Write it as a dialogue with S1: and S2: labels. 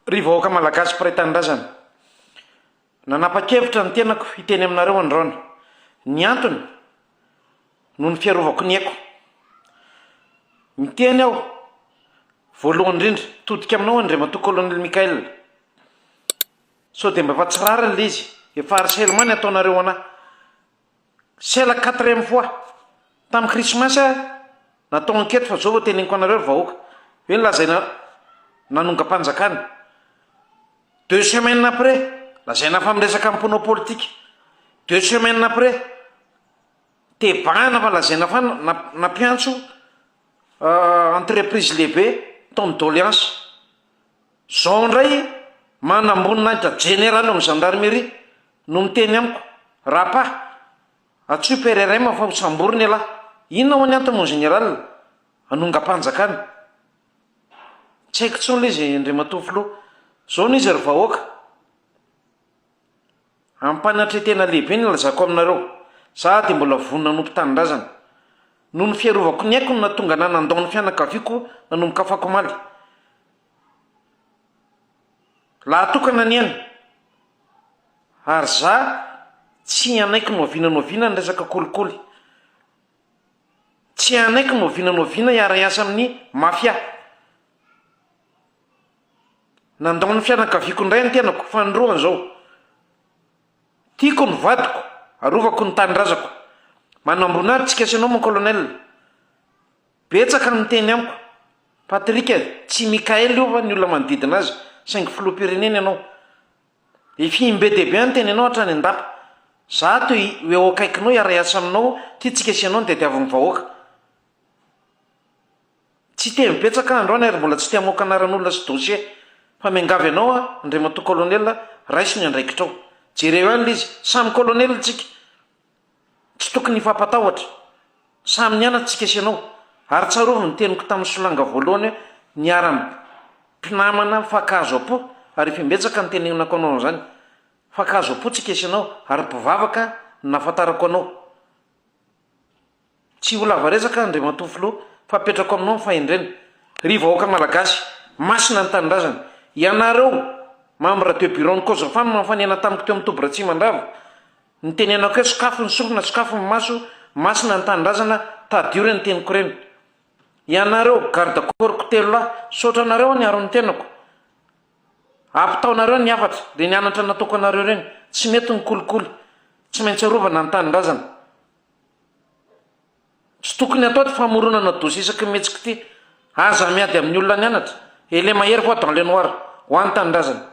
S1: Ry vahoaka malagasy mpiray tanindrazana, nanapa-kevitra ny tenako hiteny aminareo androany. Ny antony, noho ny fiarovako ny aiko. Miteny aho, voalohany indrindra, todika aminao Andriamatoa Colonel Michael. Sao dia mba efa tsy rariny ilay izy, efa harcèlement ny ataonareo an'ahy. C'est la quatrième fois, tamin'ny krismasy aho natao enquête fa zao vao teneniko anareo ry vahoaka, hoe nolazaina nanongam-panjakana, deux semaines après lazaina fa miresaka mponao politika, deux semaines après tebahana fa lazaina fa nampiantso entreprise lehibe ton'ny doleansa. Zao indray manamboninahitra jeneraly ao amin'ny gendarmerie no miteny amiko, Rapa, antsoy PRRM fa ho samborina ialahy. Inona ho'a ny antony mon général? Hanongam-panjakana. Tsy haiko intsony ilay izy Andriamatoa Filoha. Zao no izy ry vahoaka. Ampanantretena lehibe ny nilazako aminareo, Zah dia mbola vonona hanompo tanindrazana. Noho ny fiarovako ny aiko no nahatonga anah nandao ny fianakaviako nanomboka afakomaly. Lahy tokana anie aho, ary zah tsy hanaiky nohaviana nohaviana ny resaka kolikoly. Tsy hanaiky nohaviana nohaviana hiara-hiasa amin'ny mafia. Nandao ny fianakaviako indray ny tenako fanolorana izao. Tiako ny vadiko, arovako ny tanindrazako. Manambona ahy tsika sy ianao mon colonel. Betsaka ny miteny amiko. Patrick eh, tsy Mickaël io va ny olona manodidina azy, saingy filoham-pirenena ianao. Efihim be dia be aho niteny anao hatrany an-dapa. Za ato eh, ho eo akaikinao hiara-hiasa aminao, tia tsika sy ianao ny tadiavin'ny vahoaka. Tsy tevy betsaka aho androany ary mbola tsy te hamoaka anaran'olona sy dossier fa miangavy anao aho Andriamatoa Colonel raiso ny andraikitrao. Jereo ihany le izy, samy Colonel tsika, tsy tokony hifampatahotra, samy nianatra tsika sy ianao, ary tsarovy ny teniko tamin'ny solanga voalohany hoe niara mpinamana mifankahazo am-po ary efa imbetsaka notenenako anao an'izany, mifankahazo am-po tsika sy ianao ary mpivavaka no nahafantarako anao. Tsy ho lava resaka aho Andriamatoa Filoha fa apetrako aminao ny fahendrena. Ry vahoaka Malagasy, masina ny Tanindrazana. Ianareo, membres de bureau ny Cogefa no nanofanena tamiko teo amin'ny toby Ratsimandrava. Nitenenako hoe sokafy ny sorona, sokafy ny maso, masina ny Tanindrazana, tadidio reny teniko ireny. Ianareo, garde corps-ko telo lahy, misaotra anareo aho niaro ny tenako. Ampitaonareo ny hafatra dia ny anatra nataoko anareo ireny, tsy mety ny kolikoly, tsy maintsy arovana ny tanindrazana. Tsy tokony atao ity famoronana dossier isaky ny mihetsika ity. Aza miady amin'ny olona nianatra et le mahery voit dans le noir. Ho an'ny tanindrazana.